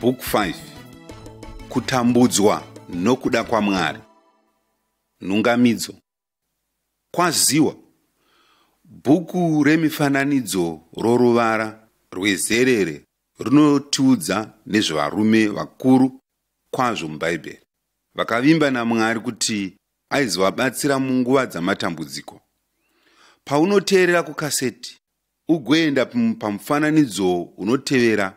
Book 5 Kutambudzwa nokuda kwaMwari Nhungamidzo Kwaziwa Bhuku remifananidzo roruvara rwezerere rinotiudza nezvevarume vakuru kwazvo muBhaibheri vakavimba naMwari kuti aizovabatsira munguva dzamatambudziko. Paunoteerera kukaseti, ugoenda pamufananidzo unotevera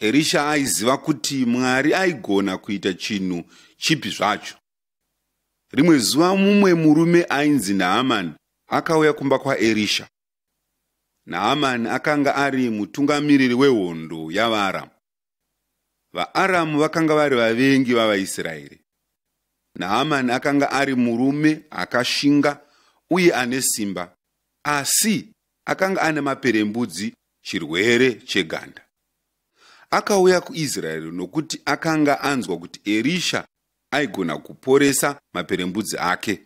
Erisha aiziva kuti Mwari aigona kuita chinhu chipi zvacho. Rimwe zuva mumwe murume ainzi Naamani akauya kumba kwaErisha. Naamani akanga ari mutungamiriri wehondo yavaAramu. VaAramu vakanga vari vavengi vavaIsraeri. Naamani akanga ari murume akashinga uye ane simba, asi akanga ane maperembudzi chirwere cheganda. Akauya kuIsraeri nokuti akanga anzwa kuti Erisha aigona kuporesa maperembudzi ake.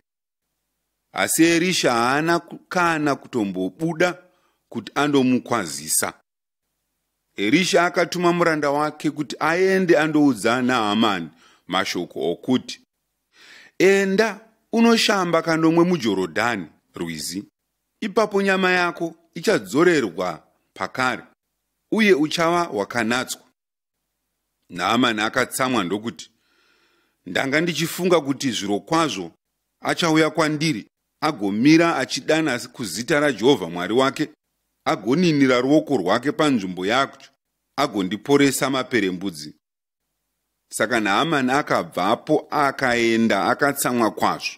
Asi Erisha haana kana kutombobuda kuti andomukwazisa. erisha akatuma muranda wake kuti aende andoudza nahamani mashoko okuti enda unoshamba kanomwe mujorodhani rwizi ipapo nyama yako ichadzorerwa pakare uye uchava wakanatswa naamani akatsamwa ndokuti ndanga ndichifunga kuti zviro kwazvo achauya kwandiri agomira achidana kuzita rajehovha mwari wake agoninira ruoko rwake panzvimbo yacho agondiporesa maperembudzi saka naamani akabvapo akaenda akatsamwa kwazvo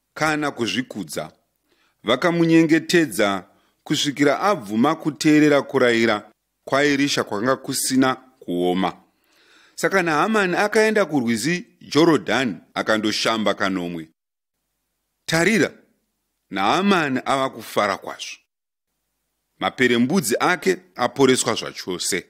kana kuzvikudza. Vakamunyengetedza kusvikira abvuma kuteerera kurayira kwaErisha kwakanga kusina kuoma. Saka Nahamani akaenda kurwizi Jorodhani akandoshamba kanomwe. Tarira, Nahamani ava kufara kwazvo. Maperembudzi ake aporeswa zvachose.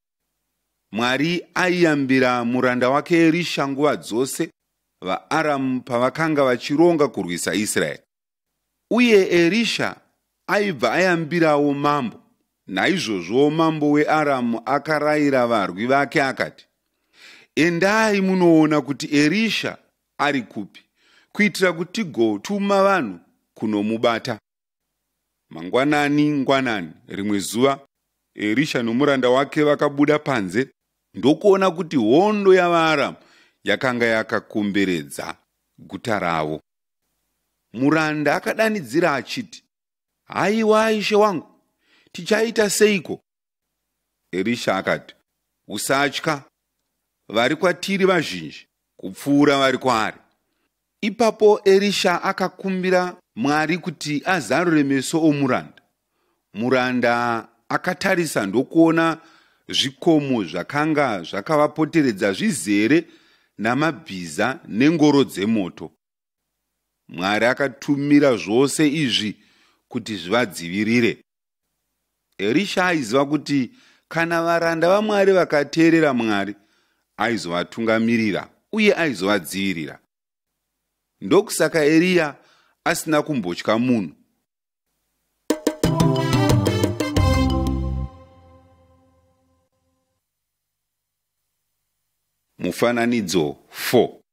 Mwari aiyambira muranda wake Erisha nguva dzose vaAramu pavakanga vachironga kurwisa Israeri. Uye Erisha aibva ayambirawo mambo. Naizvozvo mambo weAramu akarayira varwi vake akati, Endai munoona kuti Erisha ari kupi, kuitira kuti tigotuma vanhu kunomubata. Mangwanani ngwanani rimwe zuva Erisha nomuranda wake vakabuda panze ndokuona kuti hondo yavaAramu yakanga yakakomberedza guta ravo. Muranda akadanidzira achiti, Haiwa ishe wangu, tichaita seiko Erisha akati, Usatya, vari kwatiri vazhinji kupfuura vari kwaari. Ipapo Erisha akakumbira Mwari kuti azarure meso omuranda. Muranda akatarisa ndokuona zvikomo zvakanga zvakavapoteredza zvizere namabhiza nengoro dzemoto. Mwari akatumira zvose izvi kuti zvivadzivirire. Erisha aiziva kuti kana varanda vaMwari vakateerera Mwari, aizovatungamirira uye aizovadzivirira. Ndokusaka Eriya asina kumbotya munhu. Mufananidzo 4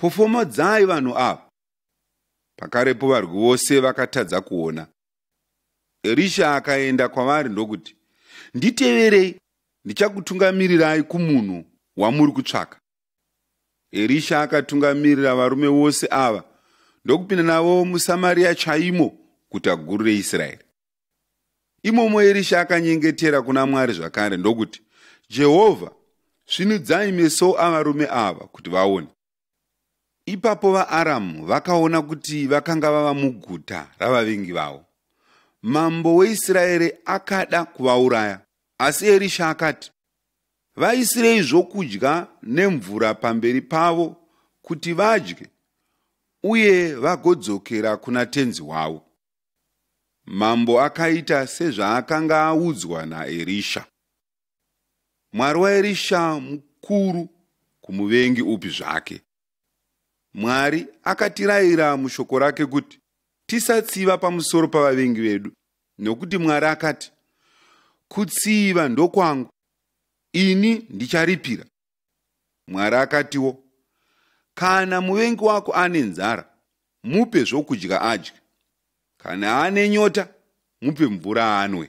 Pofomodzai vanhu ava. Pakarepo varwi vose vakatadza kuona. Erisha akaenda kwavari ndokuti, Nditeverei, ndichakutungamirirai kumunhu wamuri kutsvaka. Erisha akatungamirira varume vose ava ndokupinda navo muSamaria chaimo, guta guru reIsraeri. Imomo Erisha akanyengetera kuna Mwari zvakare ndokuti, Jehovha, svinudzai meso avarume ava kuti vaone. Ipapo vaAramu vakaona kuti vakanga vava muguta ravavengi vavo. Mambo weIsraeri akada kuvauraya, asi Erisha akati, Vaisirei zvokudya nemvura pamberi pavo kuti vadye uye vagodzokera kuna tenzi wavo. Mambo akaita sezvaakanga audzwa naErisha. Mwari waErisha mukuru kumuvengi upi zvake. Mwari akatirayira mushoko rake kuti tisatsiva pamusoro pavavengi vedu nokuti Mwari akati, Kutsiva ndokwangu, ini ndicharipira, Mwari akatiwo, Kana muvengi wako ane nzara, mupe zvokudya adye. Kana ane nyota, mupe mvura anwe.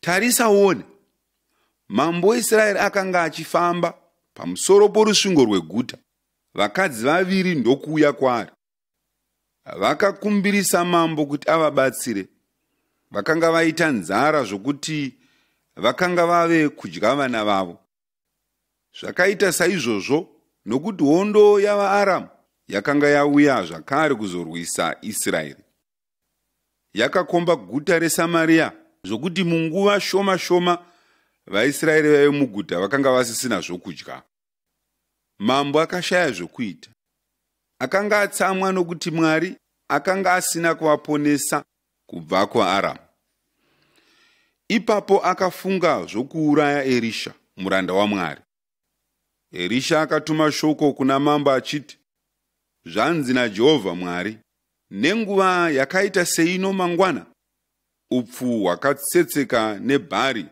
Tarisa uone. Mambo weIsraeri akanga achifamba pamusoro porusvingo rweguta. Vakadzi vaviri ndokuuya kwaari. Vakakumbirisa mambo kuti avabatsire. Vakanga vaita nzara zvokuti vakanga vave kudya vana vavo. Zvakaita saizvozvo nokuti hondo yavaAramu yakanga yauya zvakare kuzorwisa Israeri. yakakomba guta reSamaria zvokuti munguva shoma shoma vaIsraeri vaive muguta vakanga vasisina zvokudya. Mambo akashaya zvokuita. Akanga atsamwa nokuti Mwari akanga asina kuvaponesa kubva kuAramu. Ipapo akafunga zvokuuraya Erisha, muranda waMwari. Erisha akatuma shoko kuna mambo achiti, Zvanzi naJehovha Mwari, nenguva yakaita seino mangwana, upfu hwakatsetseka nebhari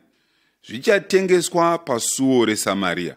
zvichatengeswa pasuo reSamaria.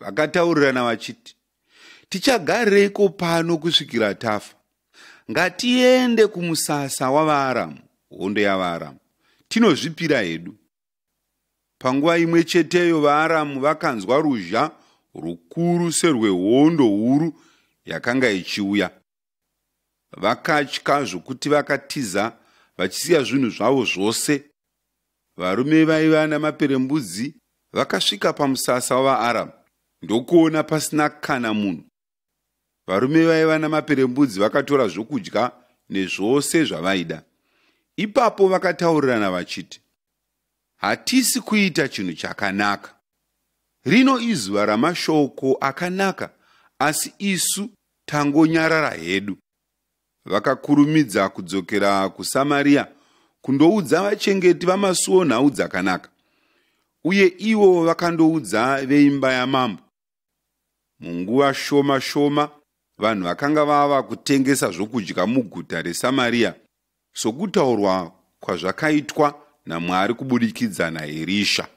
vakataurirana vachiti tichagareiko pano kusvikira tafa ngatiende kumusasa wavaaramu hondo yavaaramu tinozvipira hedu panguva imwe cheteyo vaaramu vakanzwa ruzha rukuru serwehondo huru yakanga ichiuya vakatya zvokuti vakatiza vachisiya zvinhu zvavo zvose varume vaiva namaperembudzi vakasvika pamusasa wavaaramu ndokuona pasina kana munhu varume vaiva namaperembudzi vakatora zvokudya nezvose zvavaida ipapo vakataurirana vachiti Hatisi kuita chinhu chakanaka. Rino izuva ramashoko akanaka asi isu tangonyarara hedu. Vakakurumidza kudzokera kuSamaria kundoudza vachengeti vamasuo nhau dzakanaka. Uye ivo vakandoudza veimba yamambo Munguva shoma shoma, vanhu vakanga vava kutengesa zvokudya muguta reSamaria, sokutaurwa kwazvakaitwa naMwari kubudikidza naErisha.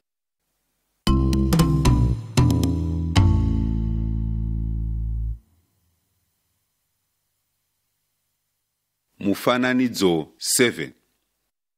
Mufananidzo 7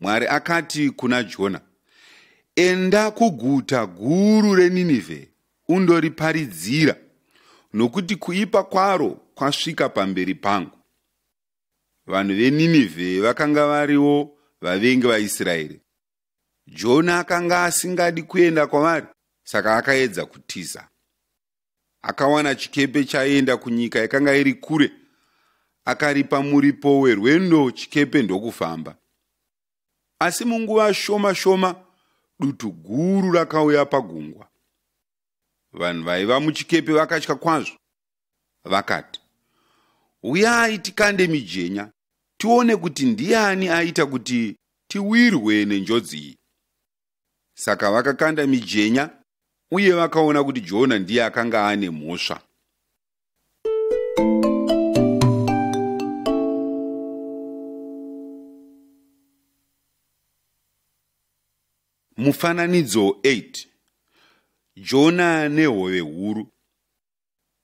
Mwari akati kuna Jona, Enda kuguta guru reNinevhe undoriparidzira, nokuti kuipa kwaro kwasvika pamberi pangu. Vanhu veNinevhe vakanga variwo vavengi vaIsraeri. Jona akanga asingadi kuenda kwavari, saka akaedza kutiza. akawana chikepe chaienda kunyika yakanga iri kure akaripa muripo werwendo chikepe ndokufamba asi munguva shoma shoma dutu guru rakauya pagungwa vanhu vaiva muchikepe vakatya kwazvo vakati uyai tikande mijenya tione kuti ndiani aita kuti tiwirwe nenjodzi iyi saka vakakanda mijenya uye vakaona kuti jona ndiye akanga ane mhosva mufananidzo 8 jona nehove huru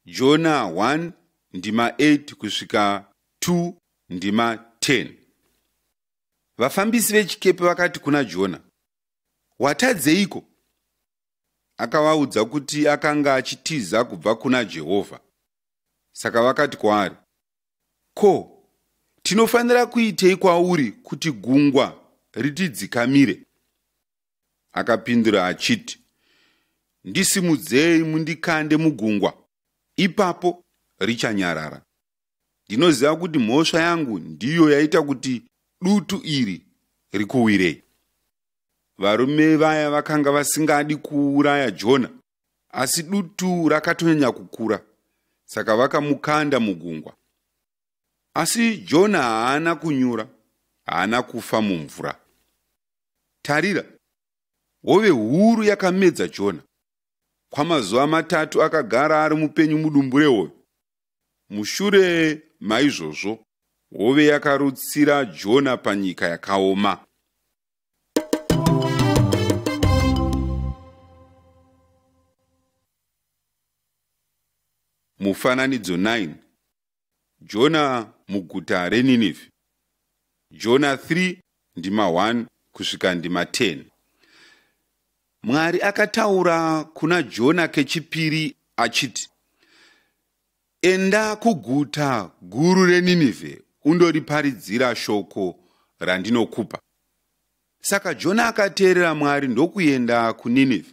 Jona 1 ndima 8 kusvika 2 ndima 10 vafambisi vechikepe vakati kuna jona watadzeiko akavaudza kuti akanga achitiza kubva kuna jehovha saka vakati kwaari ko tinofanira kuitei kwauri kuti gungwa ritidzikamire Akapindura achiti, Ndisimudzei mundikande mugungwa, ipapo richanyarara. Ndinoziva kuti mhosva yangu ndiyo yaita kuti dutu iri rikuwirei. Varume vaya vakanga vasingadi kuuraya Jona, asi dutu rakatonyanya kukura, saka vakamukanda mugungwa. Asi Jona haana kunyura, haana kufa mumvura. Tarira, hove huru yakamedza Jona. Kwamazuva matatu akagara ari mupenyu mudumbu rehove. Mushure maizvozvo, hove yakarutsira Jona panyika yakaoma. Mufananidzo 9 Jona muguta reNinevhe. Jona 3 ndima 1 kusvika ndima 10. Mwari akataura kuna Jona kechipiri achiti, Enda kuguta guru reNinevhe undoriparidzira shoko randinokupa. Saka Jona akateerera Mwari ndokuenda kuNinevhe.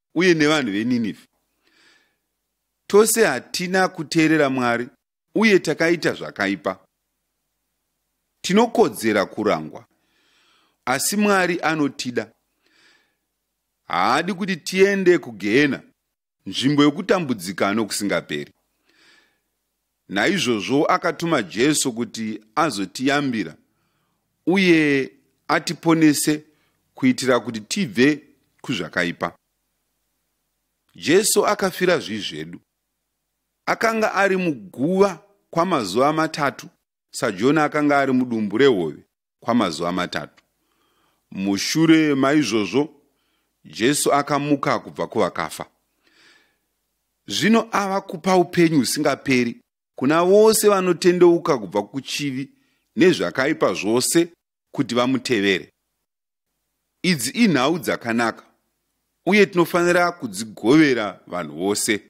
uye nevanhu veNinevhe. Tose hatina kuteerera Mwari uye takaita zvakaipa. Tinokodzera kurangwa, asi Mwari anotida. Haadi kuti tiende kugehena, nzvimbo yokutambudzika nokusingaperi. Naizvozvo akatuma Jesu kuti azotiyambira uye atiponese kuitira kuti tibve kuzvakaipa. Jesu akafira zvivi zvedu. Akanga ari muguva kwamazuva matatu saJona akanga ari mudumbu rehove kwamazuva matatu. Mushure maizvozvo, Jesu akamuka kubva kuvakafa. Zvino ava kupa upenyu husingaperi kuna vose vanotendeuka kubva kuchivi nezvakaipa zvose kuti vamutevere. Idzi inhau dzakanaka uye tinofanira kudzigovera vanhu vose.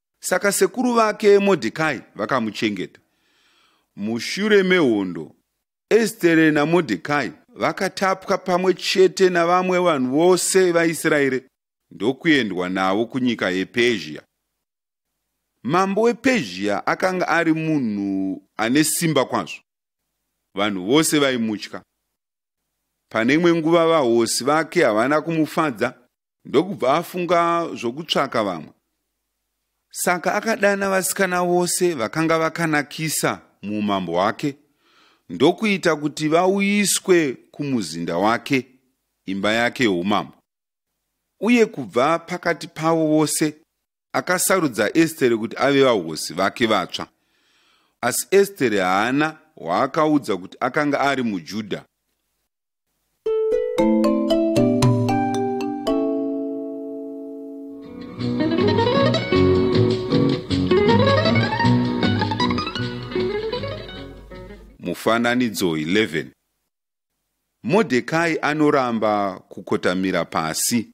Saka sekuru vake Modhekai vakamuchengeta. Mushure mehondo, Estere naModhekai vakatapwa pamwe chete navamwe vanhu vose vaIsraeri ndokuendwa navo kunyika yePezhia. Mambo wePezhia akanga ari munhu ane simba kwazvo. Vanhu vose vaimutya. Pane imwe nguva vahosi vake havana kumufadza ndokubva afunga zvokutsvaka vamwe saka akadana vasikana vose vakanga vakanakisa muumambo hwake ndokuita kuti vauyiswe kumuzinda wake imba yake youmambo uye kubva pakati pavo vose akasarudza estere kuti ave vahosi vake vatsva asi estere haana hwaakaudza kuti akanga ari mujudha mufananidzo 11 modhekai anoramba kukotamira pasi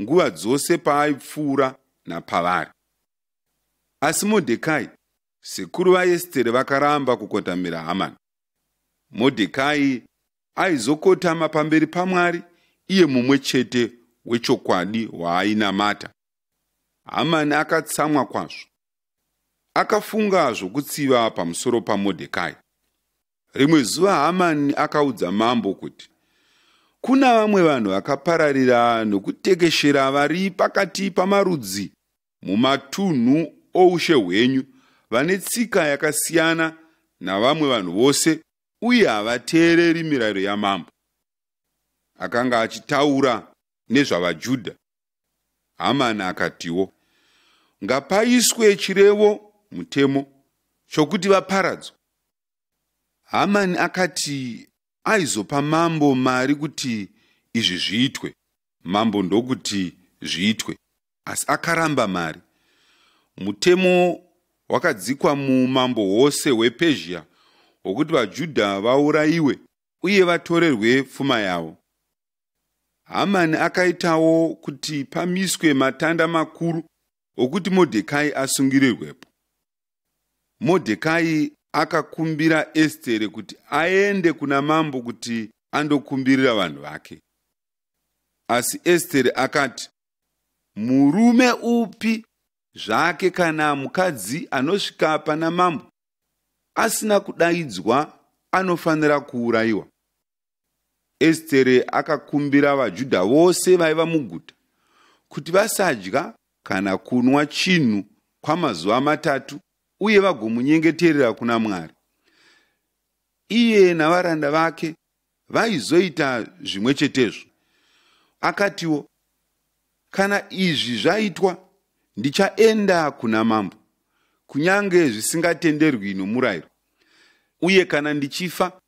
nguva dzose paaipfuura napavari. Asi Modhekai, sekuru vaEstere vakaramba kukotamira Hamani. Modhekai aizokotama pamberi paMwari iye mumwe chete wechokwadi waainamata. Hamani akatsamwa kwazvo. Akafunga zvokutsiva pamusoro paModhekai. Rimwe zuva Hamani akaudza mambo kuti kuna vamwe vanhu vakapararira nokutekeshera vari pakati pamarudzi mumatunhu oushe hwenyu vane tsika yakasiyana navamwe vanhu vose uye havateereri mirayiro yamambo. Akanga achitaura nezvavaJudha. Hamani akatiwo, Ngapaiswe chirevo mutemo chokuti vaparadzwe. Hamani akati aizopa mambo mari kuti izvi zviitwe. Mambo ndokuti zviitwe, asi akaramba mari. Mutemo wakadzikwa muumambo hwose hwePezhia hwokuti vaJudha vaurayiwe uye vatorerwe pfuma yavo. Hamani akaitawo kuti pamiswe matanda makuru okuti Modhekai asungirirwepo. Modhekai akakumbira Estere kuti aende kuna mambo kuti andokumbirira vanhu vake. Asi Estere akati, Murume upi zvake kana mukadzi anosvika pana mambo asina kudaidzwa anofanira kuurayiwa. Estere akakumbira vaJudha vose vaiva muguta kuti vasadya kana kunwa chinhu kwamazuva matatu uye vagomunyengeterera kuna Mwari. Iye navaranda vake vaizoita zvimwe chetezvo. Akatiwo, Kana izvi zvaitwa, ndichaenda kuna mambo, kunyange zvisingatenderwi nomurayiro. Uye kana ndichifa,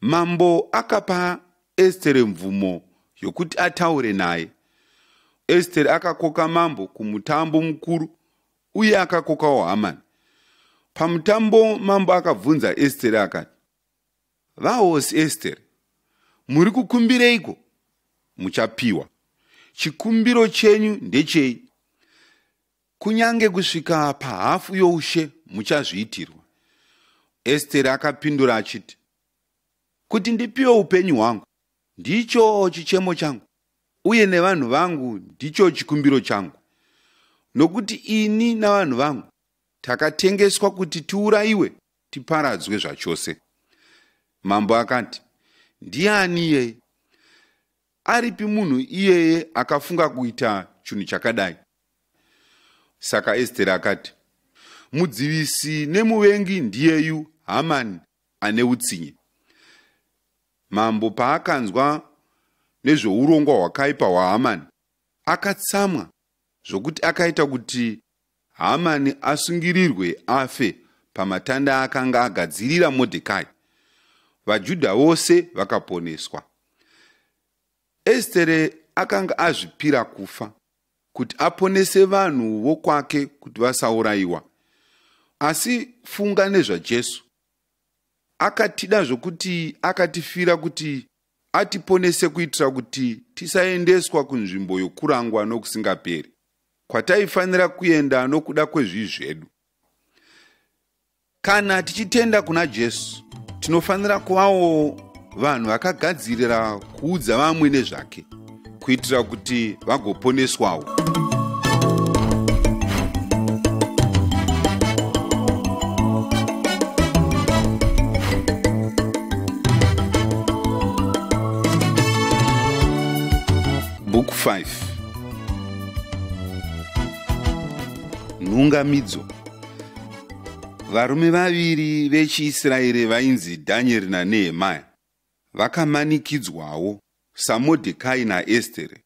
Mambo akapa Estere mvumo yokuti ataure naye. Estere akakoka mambo kumutambo mukuru uye akakokawo Hamani. Pamutambo mambo akabvunza Estere akati, Vahosi Estere, muri kukumbireiko? Muchapiwa. Chikumbiro chenyu ndechei? Kunyange kusvika pahafu youshe muchazviitirwa. Esteri akapindura achiti, Kuti ndipiwe upenyu hwangu ndicho chichemo changu, uye nevanhu vangu ndicho chikumbiro changu, nokuti ini navanhu vangu takatengeswa kuti tiurayiwe tiparadzwe zvachose. Mambo akati, Ndiani iyeye? aripi munhu iyeye akafunga kuita chinhu chakadai saka esteri akati mudzivisi nemuvengi ndiyeyu hamani ane utsinye mambo paakanzwa nezveurongwa hwakaipa hwahamani akatsamwa zvokuti akaita kuti Hamani asungirirwe afe pamatanda akanga agadzirira Modhekai. VaJudha vose vakaponeswa. Estere akanga azvipira kufa kuti aponese vanhu vokwake kuti vasaurayiwa. Asi funga nezvaJesu. Akatida zvokuti akatifira kuti atiponese kuitira kuti tisaendeswa kunzvimbo yokurangwa nokusingaperi kwataifanira kuenda nokuda kwezvii zvedu kana tichitenda kuna jesu tinofanira kuvawo vanhu vakagadzirira kuudza vamwe nezvake kuitira kuti vagoponeswawo book 5 nhungamidzo varume vaviri vechiisraeri vainzi dhanyeri nanehemaya vakamanikidzwawo saModhekai naEstere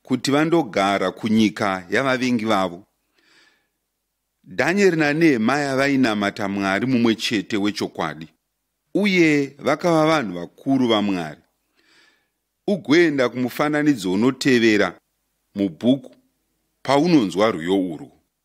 kuti vandogara kunyika yavavengi vavo. Dhanyeri naNehemaya vainamata Mwari mumwe chete wechokwadi, uye vakava vanhu vakuru vaMwari. Ugoenda kumufananidzo unotevera mubhuku paunonzwa rwiyo urwu.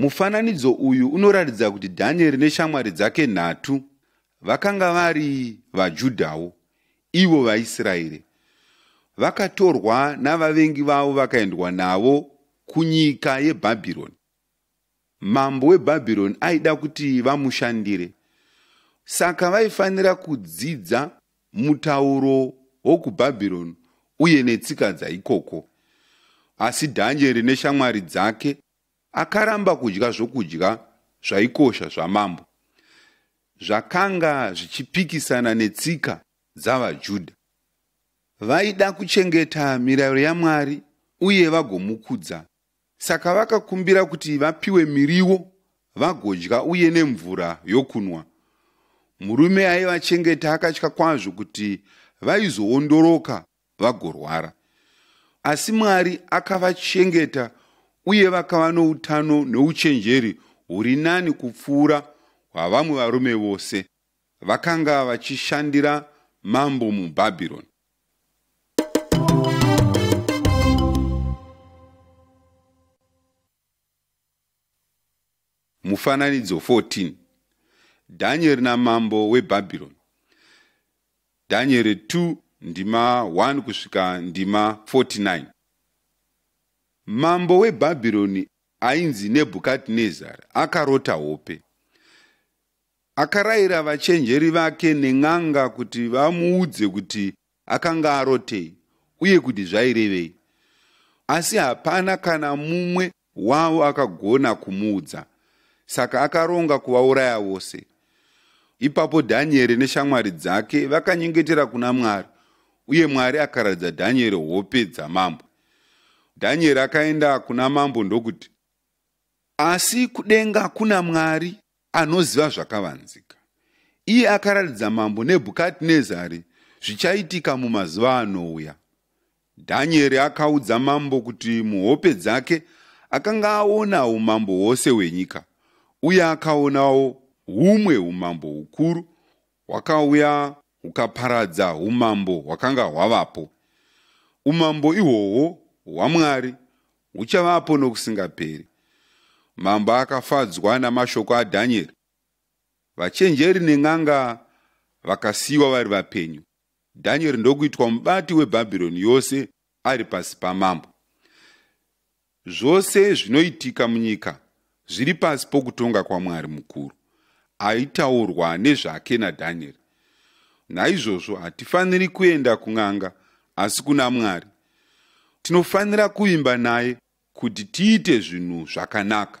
Mufananidzo uyu unoratidza kuti Dhanieri neshamwari dzake nhatu vakanga vari vaJudhawo, ivo vaIsraeri. Vakatorwa navavengi vavo vakaendwa navo kunyika yeBhabhironi. Mambo weBhabhironi aida kuti vamushandire, saka vaifanira kudzidza mutauro wokuBhabhironi uye netsika dzaikoko. Asi Dhanieri neshamwari dzake Akaramba kudya zvokudya zvaikosha zvamambo zvakanga zvichipikisana netsika dzavaJudha. Vaida kuchengeta mirayiro yaMwari uye vagomukudza. Saka vakakumbira kuti vapiwe miriwo vagodya uye nemvura yokunwa. Murume aivachengeta akatya kwazvo kuti vaizoondoroka vagorwara asi mwari akavachengeta uye vakava noutano nouchenjeri huri nani kupfuura hwavamwe varume vose vakanga vachishandira mambo mubhabhironi Mufananidzo 14 Danieri namambo weBhabhironi Danieri 2 ndima 1 kusvika ndima 49 Mambo weBhabhironi ainzi Nebhukadhinezari akarota hope. Akarayira vachenjeri vake nen'anga kuti vamuudze kuti akanga arotei uye kuti zvairevei. Asi hapana kana mumwe wavo akagona kumuudza, saka akaronga kuvauraya vose. Ipapo Dhanieri neshamwari dzake vakanyengetera kuna Mwari, uye Mwari akaratidza Dhanieri hope dzamambo. Dhanieri akaenda kuna mambo ndokuti, Asi kudenga kuna Mwari anoziva zvakavanzika. Iye akaratidza mambo Nebhukadnezari zvichaitika mumazuva anouya. Dhanieri akaudza mambo kuti muhope dzake akanga aona umambo hwose hwenyika, uye akaonawo humwe umambo hukuru hwakauya hukaparadza humambo hwakanga hwavapo. Umambo ihwohwo hwaMwari uchavapo nokusingaperi. Mambo akafadzwa namashoko aDhanieri. Vachenjeri nen'anga vakasiyiwa vari vapenyu. Dhanieri ndokuitwa mubati weBhabhironi yose ari pasi pamambo. Zvose zvinoitika munyika Zviri pasi pokutonga kwaMwari mukuru aitaurwa nezvake naDhanieri. Naizvozvo hatifaniri kuenda kun'anga asi kuna Mwari. Tinofanira kuvimba naye kuti tiite zvinhu zvakanaka.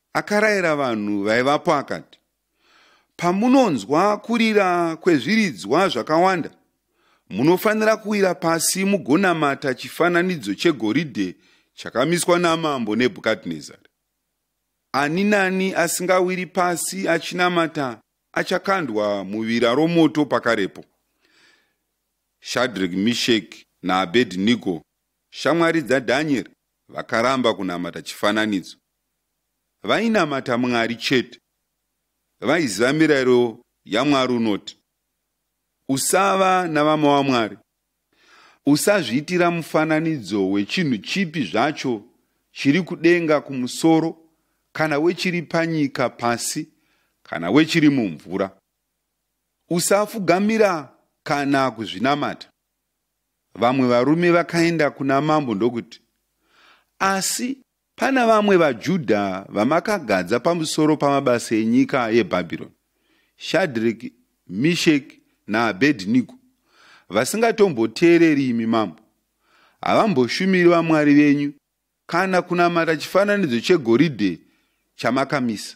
Akarayira vanhu vaivapo akati, Pamunonzwa kurira kwezviridzwa zvakawanda, munofanira kuwira pasi mugonamata chifananidzo chegoridhe chakamiswa namambo Nebhukadnezari. Ani nani asingawiri pasi achinamata achakandwa muvira romoto pakarepo. Shadrek, Mishek naAbednigo, shamwari dzaDhanieri, vakaramba kunamata chifananidzo. vainamata Mwari chete. Vaiziva mirayiro yaMwari unoti, Usava navamwe waMwari. Usazviitira mufananidzo wechinhu chipi zvacho chiri kudenga kumusoro kana wechiri panyika pasi kana wechiri mumvura. Usafugamira kana kuzvinamata. Vamwe varume vakaenda kuna mambo ndokuti, Asi Pana vamwe vaJudha vamakagadza pamusoro pamabasa enyika yeBhabhironi, Shadreki, Misheki naAbhedhinigo, vasingatomboteereri imi mambo. Havamboshumiri vamwari venyu kana kunamata chifananidzo chegoridhe chamakamisa.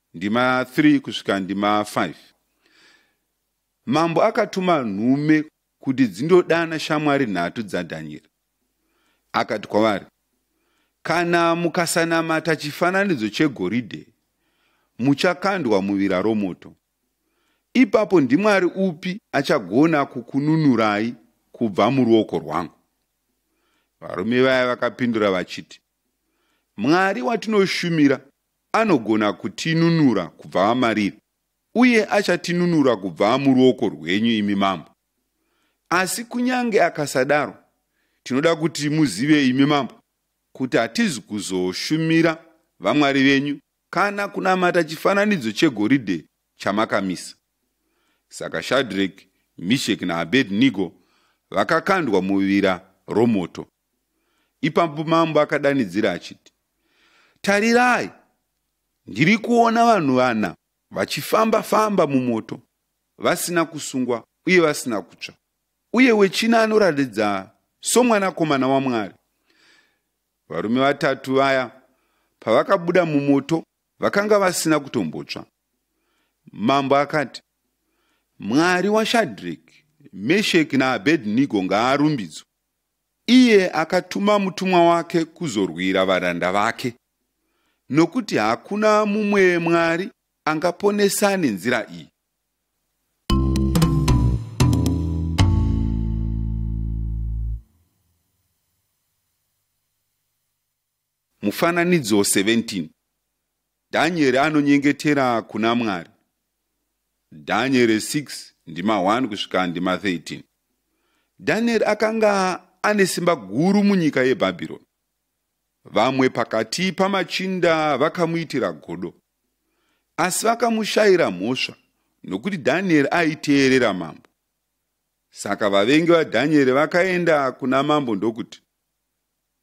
Ndima 3 kusvika ndima 5. Mambo akatuma nhume kuti dzindodana shamwari nhatu dzaDhanyeri. Akati kwavari, Kana mukasanamata chifananidzo chegoridhe, muchakandwa muvira romoto. Ipapo ndimwari upi achagona kukununurai kubva muruoko rwangu? Varume vaya vakapindura vachiti, Mwari watinoshumira anogona kutinunura kubva amariri, uye achatinunura kubva muruoko rwenyu, imi mambo. Asi kunyange akasadaro, tinoda kuti muzive, imi mambo, kuti hatizi kuzoshumira vamwari venyu kana kunamata chifananidzo chegoridhe chamakamisa. Saka Shadreki, Misheki naAbednigo vakakandwa muvira romoto. Ipapo mambo akadanidzira achiti, Tarirai, ndiri kuona vanhu vana vachifamba-famba mumoto, vasina kusungwa uye vasina kutsva, uye wechina anoratidza somwanakomana waMwari. Varume vatatu vaya pavakabuda mumoto vakanga vasina kutombotsva. Mambo akati, Mwari waShadreki, Mesheki naAbednigo ngaarumbidzwe, Iye akatuma mutumwa wake kuzorwira varanda vake, nokuti hakuna mumwe Mwari angaponesa nenzira iyi. Mufananidzo 17 Dhanyeri anonyengetera kuna Mwari Dhanyeri 6 ndima 1 kusvika ndima 13 Dhanyeri akanga ane simba guru munyika yeBhabhironi. Vamwe pakati pamachinda vakamuitira godo, asi vakamushaira mhosva nokuti Dhanyeri aiteerera mambo. Saka vavengi vaDhanyeri vakaenda kuna mambo ndokuti,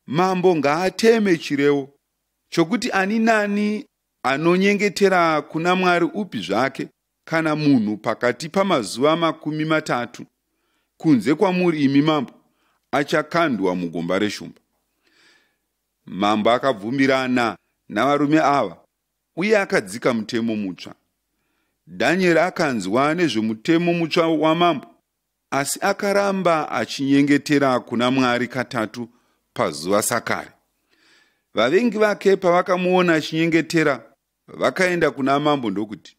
Mambo ngaateme chirevo chokuti ani nani anonyengetera kuna Mwari upi zvake kana munhu pakati pamazuva makumi matatu kunze kwamuri imi mambo achakandwa mugomba reshumba. Mambo akabvumirana navarume ava uye akadzika mutemo mutsva. Danieri akanzwa nezvemutemo mutsva wamambo asi akaramba achinyengetera kuna mwari katatu pazuva sakare vavengi vake pavakamuona achinyengetera vakaenda kuna mambo ndokuti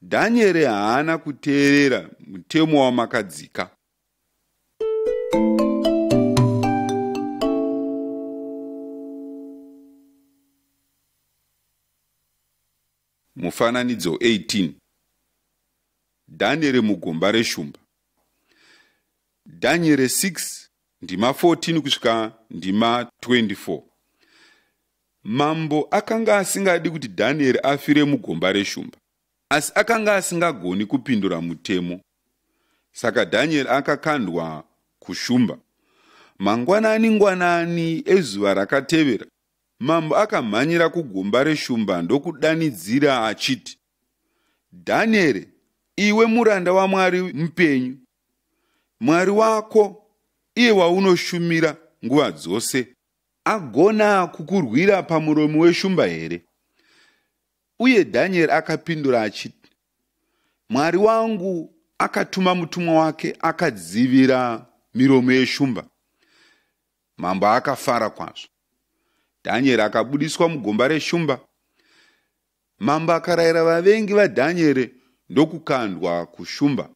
dhanieri haana kuteerera mutemo wamakadzika Mufananidzo 18 Dhanyere mugomba reshumba Dhanyere 6 ndima 14 kusvika ndima 24 Mambo akanga asingadi kuti Dhanyere afire mugomba reshumba asi akanga asingagoni kupindura mutemo saka Dhanyere akakandwa kushumba mangwanani ngwanani ezuva rakatevera Mambo akamhanyira kugomba reshumba ndokudanidzira achiti, Dhanieri, iwe muranda waMwari mupenyu, Mwari wako iye waunoshumira nguva dzose, agona kukurwira pamuromo weshumba here? Uye Dhanieri akapindura achiti, Mwari wangu akatuma mutumwa wake akadzivira miromo yeshumba, Mambo akafara kwazvo. Dhanyeri akabudiswa mugomba reshumba. Mambo akarayira vavengi vaDhanyeri ndokukandwa kushumba,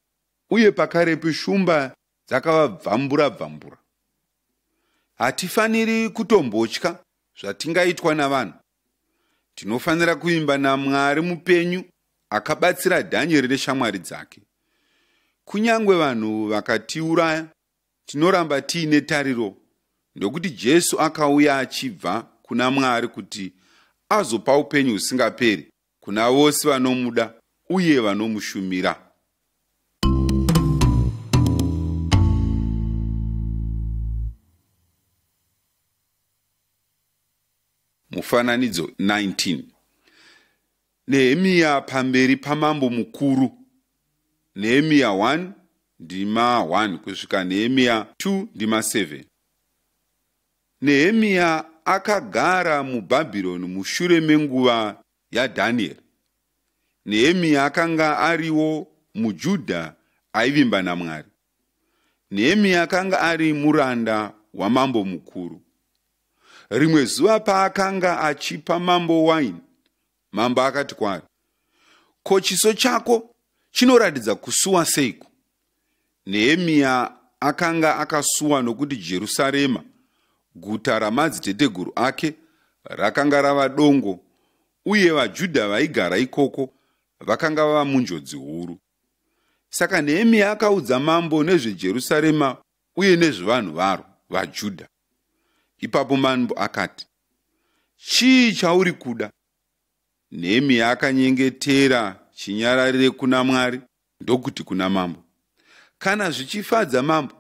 uye pakarepo shumba dzakavabvambura bvambura. Hatifaniri kutombotya zvatingaitwa navanhu. Tinofanira kuimba naMwari mupenyu akabatsira Dhanyeri neshamwari dzake. Kunyange vanhu vakatiuraya, Tinoramba tiine tariro ndokuti Jesu akauya achibva kuna Mwari kuti azopa upenyu husingaperi kuna vose vanomuda uye vanomushumira. Mufananidzo 19 Nehemiya pamberi pamambo mukuru. Nehemiya 1 ndima 1 kusvika Nehemiya 2 ndima 7. Nehemiya akagara muBhabhironi mushure menguva yaDhanieri. Nehemiya akanga ariwo muJudha aivimba naMwari. Nehemiya akanga ari muranda wamambo mukuru. Rimwe zuva paakanga achipa mambo waini, mambo akati kwaari, Ko chiso chako chinoratidza kusuwa seiko? Nehemiya akanga akasuwa nokuti Jerusarema, guta ramadziteteguru ake, rakanga rava dongo, uye vaJudha vaigara ikoko vakanga vava munjodzi huru. Saka Nehemiya akaudza mambo nezveJerusarema uye nezvevanhu varo, vaJudha. ipapo manbo akati chii chauri kuda nehemiya akanyengetera chinyararire kuna mwari ndokuti kuna mambo kana zvichifadza mambo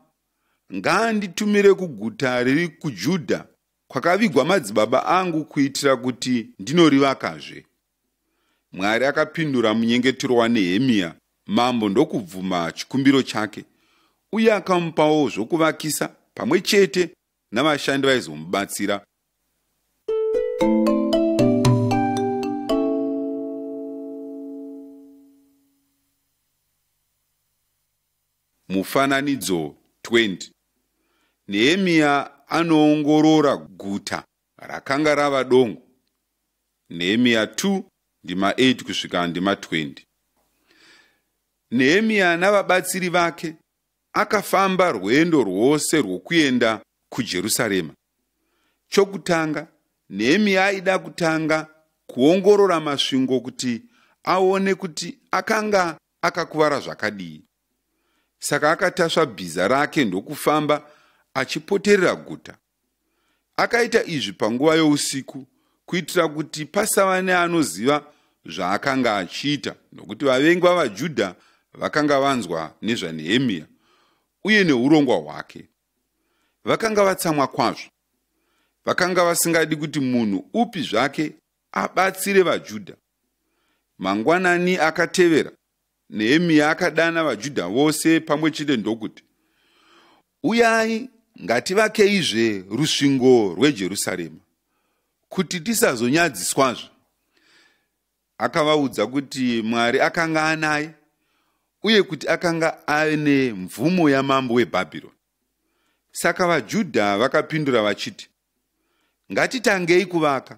ngaanditumire kuguta riri kujudha kwakavigwa madzibaba angu kuitira kuti ndinorivakazve Mwari akapindura munyengetero waNehemiya mambo ndokubvuma chikumbiro chake uye akamupawo zvokuvakisa pamwe chete navashandi vaizomubatsira mufananidzo 20 nehemiya anoongorora guta Rakanga rava dongo. Nehemiya 2 ndima 8 kusvika ndima 20. Nehemiya navabatsiri vake akafamba rwendo rwose rwokuenda kuJerusarema. Chokutanga, Nehemiya aida kutanga kuongorora masvingo kuti aone kuti akanga akakuvara zvakadii. Saka akatasva bhiza rake ndokufamba achipoterera guta. Akaita izvi panguva yousiku kuitira kuti pasava neanoziva zvaakanga achiita, nokuti vavengi vavaJudha vakanga vanzwa nezvaNehemiya uye neurongwa hwake. Vakanga vatsamwa kwazvo. Vakanga vasingadi kuti munhu upi zvake abatsire vaJudha. Mangwanani akatevera, Nehemiya akadana vaJudha vose pamwe chete ndokuti, Uyai ngativakeizve rusvingo rweJerusarema, kuti tisazonyadziswazve. Akavaudza kuti Mwari akanga anaye uye kuti akanga aine mvumo yamambo weBhabhironi. Saka vaJudha vakapindura vachiti, Ngatitangei kuvaka.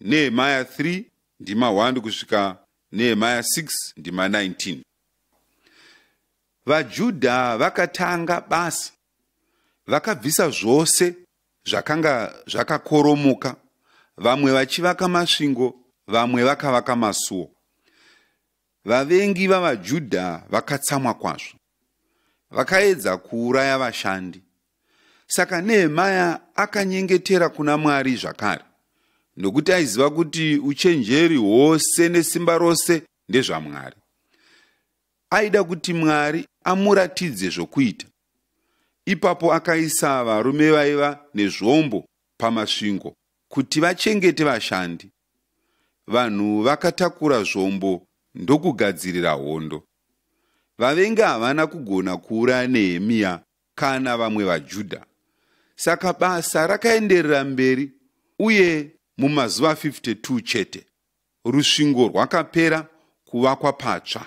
Nehemaya 3 ndima 1 kusvika Nehemaya 6 ndima 19. VaJudha vakatanga basa, vakabvisa zvose zvakanga zvakakoromoka, vamwe vachivaka masvingo, vamwe vakavaka masuo. Vavengi vavaJudha vakatsamwa kwazvo, vakaedza kuuraya vashandi Saka Nehemaya akanyengetera kuna Mwari zvakare, nokuti aiziva kuti uchenjeri hwose nesimba rose ndezvaMwari. Aida kuti Mwari amuratidze zvokuita. Ipapo akaisa varume vaiva nezvombo pamasvingo kuti vachengete vashandi. Vanhu vakatakura zvombo ndokugadzirira hondo. Vavengi havana kugona kuuraya Nehemiya kana vamwe vaJudha. Saka basa rakaenderera mberi uye mumazuva 52 chete rusvingo rwakapera kuvakwa patsva.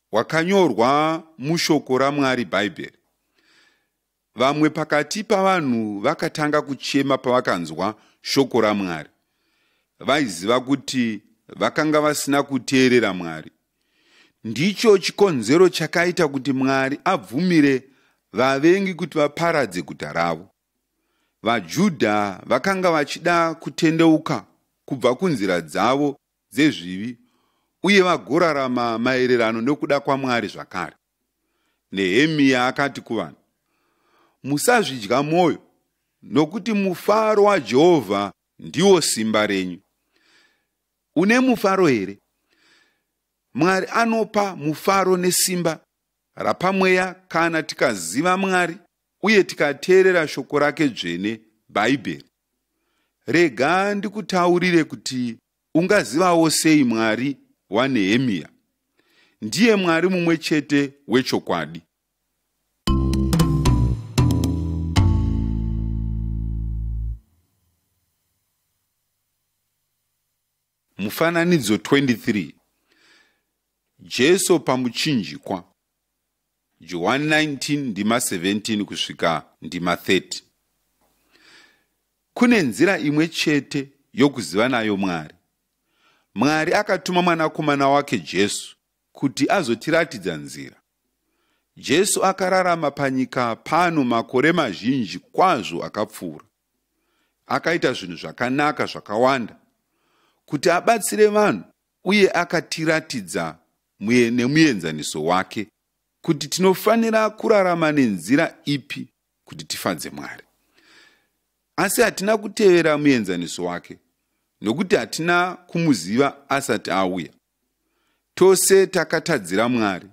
wakanyorwa mushoko raMwari Bhaibheri. Vamwe pakati pavanhu vakatanga kuchema pavakanzwa shoko raMwari. Vaiziva kuti vakanga vasina kuteerera Mwari. Ndicho chikonzero chakaita kuti Mwari abvumire vavengi kuti vaparadze guta ravo. VaJudha vakanga vachida kutendeuka kubva kunzira dzavo dzezvivi uye vagorarama maererano nokuda kwaMwari zvakare. Nehemiya akati kuvanhu, Musazvidya mwoyo, nokuti mufaro waJehovha ndiwo simba renyu. Une mufaro here? Mwari anopa mufaro nesimba rapamweya kana tikaziva Mwari uye tikateerera shoko rake dzvene, Bhaibheri. rega ndikutaurire kuti ungazivawo sei mwari wanehemiya ndiye mwari mumwe chete wechokwadi mufananidzo 23 jesu pamuchinjikwa Johani 19 ndima 17 kusvika ndima 30. Kune nzira imwe chete yokuziva nayo Mwari. Mwari akatuma mwanakomana wake Jesu kuti azotiratidza nzira. Jesu akararama panyika pano makore mazhinji kwazvo akapfuura. Akaita zvinhu zvakanaka zvakawanda kuti abatsire vanhu uye akatiratidza muye nemuenzaniso wake kuti tinofanira kurarama nenzira ipi kuti tifadze mwari asi hatina kutevera muenzaniso wake nokuti hatina kumuziva asati auya tose takatadzira mwari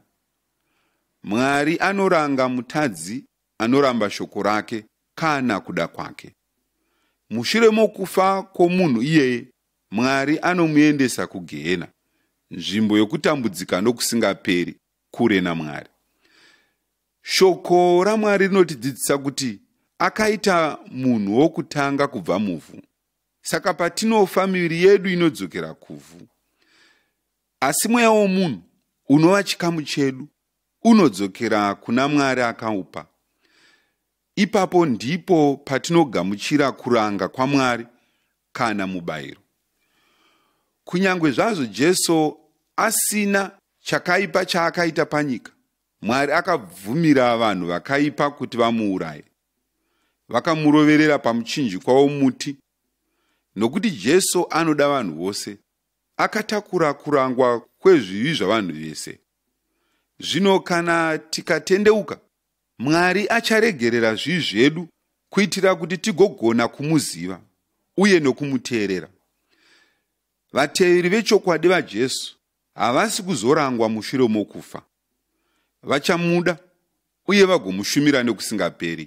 mwari anoranga mutadzi anoramba shoko rake kana kuda kwake mushure mokufa kwomunhu iyeye Mwari anomuendesa kugehena, nzvimbo yokutambudzika nokusingaperi, kure naMwari. Shoko raMwari rinotidzidzisa kuti akaita munhu wokutanga kubva muvhu. Saka patinofa, miviri yedu inodzokera kuvhu. Asi mweya womunhu unova chikamu chedu unodzokera kuna Mwari akaupa. Ipapo ndipo patinogamuchira kuranga kwaMwari kana mubayiro. Kunyange zvazvo Jesu asina chakaipa chaakaita panyika, Mwari akabvumira vanhu vakaipa kuti vamuuraye. Vakamuroverera pamuchinjikwa womuti. Nokuti Jesu anoda vanhu vose, akatakura kurangwa kwezvivi zvavanhu vese. Zvino kana tikatendeuka Mwari acharegerera zvivi zvedu kuitira kuti tigogona kumuziva uye nokumuteerera. Vateveri vechokwadi vaJesu havasi kuzorangwa mushure mokufa. Vachamuda uye vagomushumira nekusingaperi.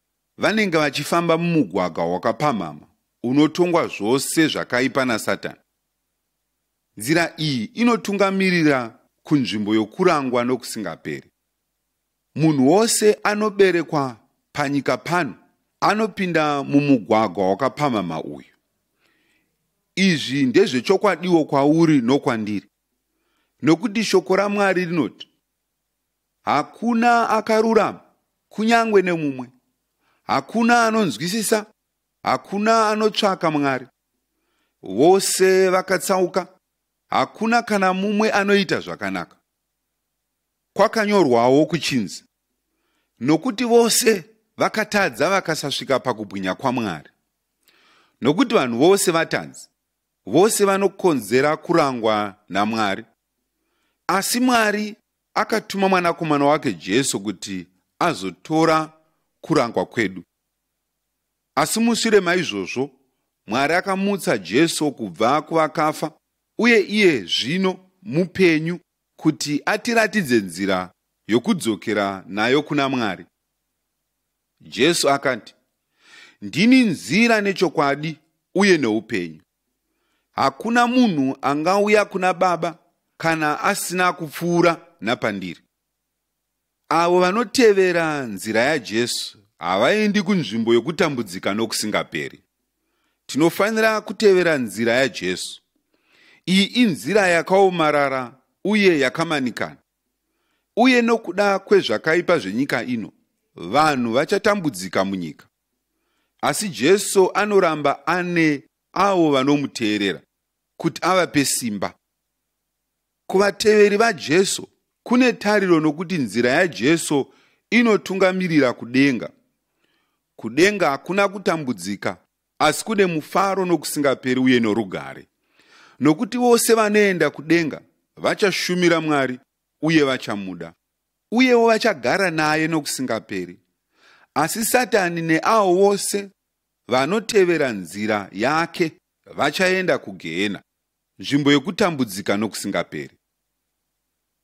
Vanenge vachifamba mumugwaga wakapamhama unotongwa zvose zvakaipa naSatani. Nzira iyi inotungamirira kunzvimbo yokurangwa nokusingaperi. Munhu wose anoberekwa panyika pano anopinda mumugwagwa wakapamhama uyu. Izvi ndezvechokwadiwo kwauri nokwandiri, nokuti shoko raMwari rinoti, hakuna akarurama kunyange nemumwe hakuna anonzwisisa hakuna anotsvaka mwari vose vakatsauka hakuna kana mumwe anoita zvakanaka kwakanyorwawo kuchinzi nokuti vose vakatadza vakasasvika pakubwinya kwamwari nokuti vanhu vose vatadzi vose vanokonzera kurangwa namwari asi mwari akatuma mwanakomana wake jesu kuti azotora kurangwa kwedu asi mushure maizvozvo mwari akamutsa jesu kubva kuvakafa uye iye zvino mupenyu kuti atiratidze nzira yokudzokera nayo kuna mwari jesu akati ndini nzira nechokwadi uye neupenyu hakuna munhu angauya kuna baba kana asina kupfuura napandiri avo vanotevera nzira yajesu havaendi kunzvimbo yokutambudzika nokusingaperi tinofanira kutevera nzira yajesu iyi inzira yakaomarara uye yakamanikana uye nokuda kwezvakaipa zvenyika ino vanhu vachatambudzika munyika asi jesu anoramba ane avo vanomuteerera kuti avape simba kuvateveri vajesu kune tariro nokuti nzira yajesu inotungamirira kudenga kudenga hakuna kutambudzika asi kune mufaro nokusingaperi uye norugare nokuti vose vanoenda kudenga vachashumira mwari uye vachamuda uyewo vachagara naye nokusingaperi. Asi Satani neavo vose vanotevera nzira yake vachaenda kugehena, nzvimbo yokutambudzika nokusingaperi.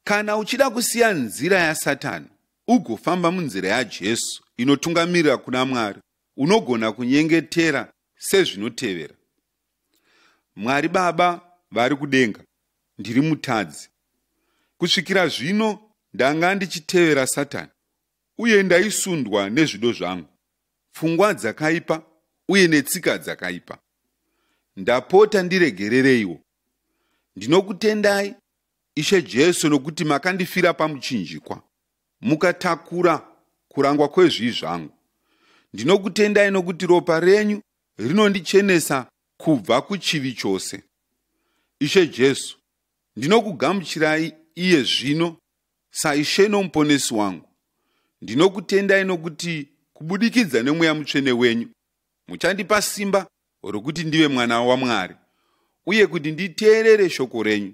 Kana uchida kusiya nzira yaSatani ugofamba munzira yaJesu inotungamirira kuna Mwari, unogona kunyengetera sezvinotevera. Mwari Baba vari kudenga, ndiri mutadzi. Kusvikira zvino ndanga ndichitevera Satani uye ndaisundwa nezvido zvangu, pfungwa dzakaipa uye netsika dzakaipa. Ndapota ndiregerereiwo. Ndinokutendai Ishe Jesu nokuti makandifira pamuchinjikwa, mukatakura kurangwa kwezvii zvangu. Ndinokutendai nokuti ropa renyu rinondichenesa kubva kuchivi chose. Ishe Jesu, ndinokugamuchirai iye zvino saIshe noMuponesi wangu. Ndinokutendai nokuti kubudikidza nemweya mutsvene wenyu muchandipa simba rokuti ndive mwana waMwari uye kuti nditeerere shoko renyu.